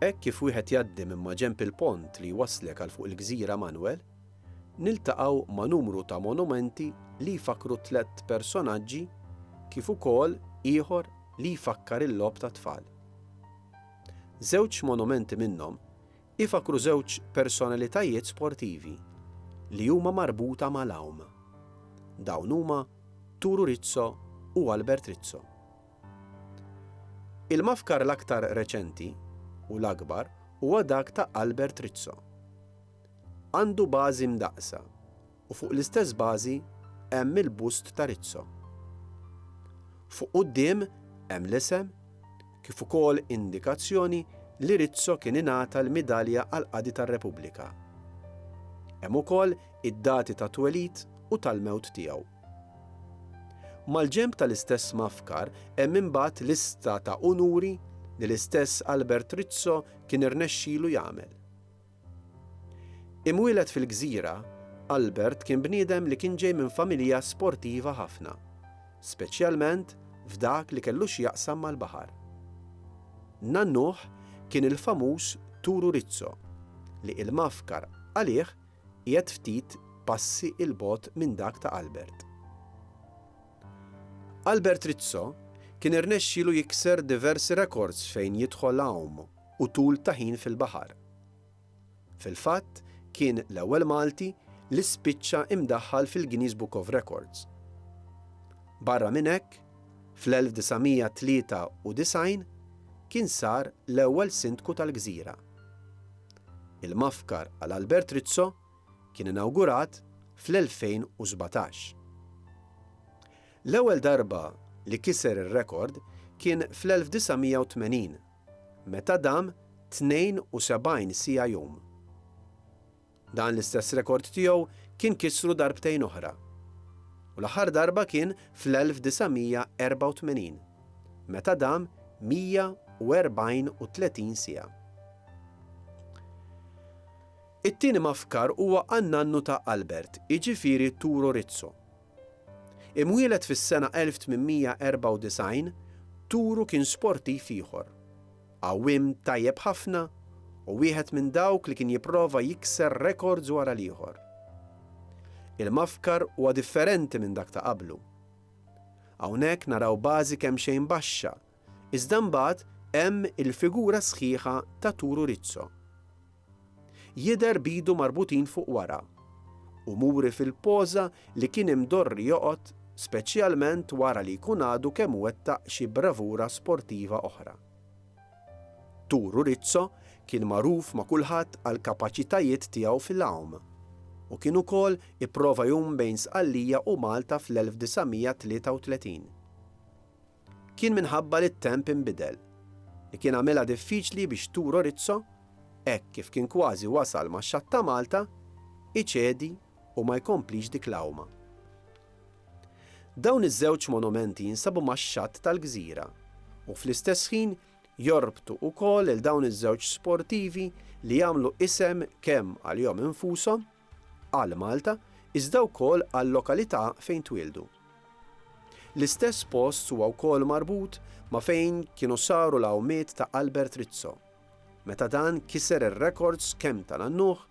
Hekk kif wieħed jgħaddi minn maġenb il-pont li jwasslek għal fuq il-gżira Manuel, niltaqgħu ma' numru ta' monumenti li jfakkru tlett personaġġi kif ukoll ieħor li jfakkar il-logħob tat-tfal. Żewġ monumenti minnhom ifakkru żewġ personalitajiet sportivi li huma marbuta mal-għawm. Dawn huma Turu Rizzo u Albert Rizzo. Il-mafkar l-aktar reċenti, u l-akbar, huwa dak ta' Albert Rizzo. Għandu bażi mdaqqsa, u fuq l-istess bażi hemm il-bust ta' Rizzo. Fuq quddiem hemm l-isem, kif ukoll indikazzjoni li Rizzo kien ingħata l-Midalja għall-Qadi tar-Repubblika. Hemm ukoll id-dati tat-twelid u tal-mewt tiegħu. Mal-ġenb tal-istess Mafkar hemm imbagħad lista ta' unuri li l-istess Albert Rizzo kien irnexxielu jagħmel. Imwieled fil-gżira, Albert kien bniedem li kien ġej minn familja sportiva ħafna, speċjalment f'dak li kellu x'jaqsam mal-baħar. Nannuh kien il-famuż Turu Rizzo, li il-Mafkar għalih Qiegħed ftit passi 'l bogħod minn dak ta' Albert. Albert Rizzo kien irnexxielu jikser diversi rekords fejn jidħol għawm u tul ta' ħin fil-baħar. Fil-fatt kien l-ewwel Malti li spiċċa imdaħħal fil-Guinness Book of Records. Barra minn hekk, fl-1993 kien sar l-ewwel Sindku tal-gżira. Il-Mafkar għal Albert Rizzo kien inawgurat fl-2017. L-ewwel darba li kiser ir-rekord kien fl-1980, meta dam 72 siegħa jum. Dan l-istess rekord tiegħu kien kisru darbtejn oħra, u l-aħħar darba kien fl-1984. meta dam 134 siegħa. It-tieni mafkar huwa għan-nannu ta' Albert, jiġifieri Turo Rizzo. Imwieled fis-sena 1894, Turu kien sportiv ieħor, għawwiem tajjeb ħafna u wieħed minn dawk li kien jipprova jikser rekords wara l-ieħor. Il-mafkar huwa differenti minn dak ta' qablu. Hawnhekk naraw bażi kemxejn baxxa, iżda mbagħad hemm il-figura sħiħa ta' Turu Rizzo. Jidher b'idu marbutin fuq wara, u muri fil-poża li kien imdorri joqgħod speċjalment wara li jkun għadu kemm wettaq xi bravura sportiva oħra. Turu Rizzo kien magħruf ma' kulħadd għall-kapaċitajiet tiegħu fil-għum u kien ukoll ipprova jgħum bejn Sqallija u Malta fl-1933. Kien minħabba li t-temp inbidel li kien għamilha diffiċli biex Turo Rizzo, hekk kif kien kważi wasal max-xatt ta' Malta, iċedi u ma jkomplix dik l-għuma. Dawn iż-żewġ monumenti jinsabu max-xatt tal-gżira u fl-istess ħin jorbtu wkoll lil dawn iż-żewġ sportivi li għamlu isem kemm għalihom infushom, għal Malta, iżda wkoll għal-lokalità fejn twieldu. L-istess post huwa wkoll marbut ma' fejn kienu saru l-għawmiet ta' Albert Rizzo, meta dan kiser ir-rekords kemm tal-għannuħ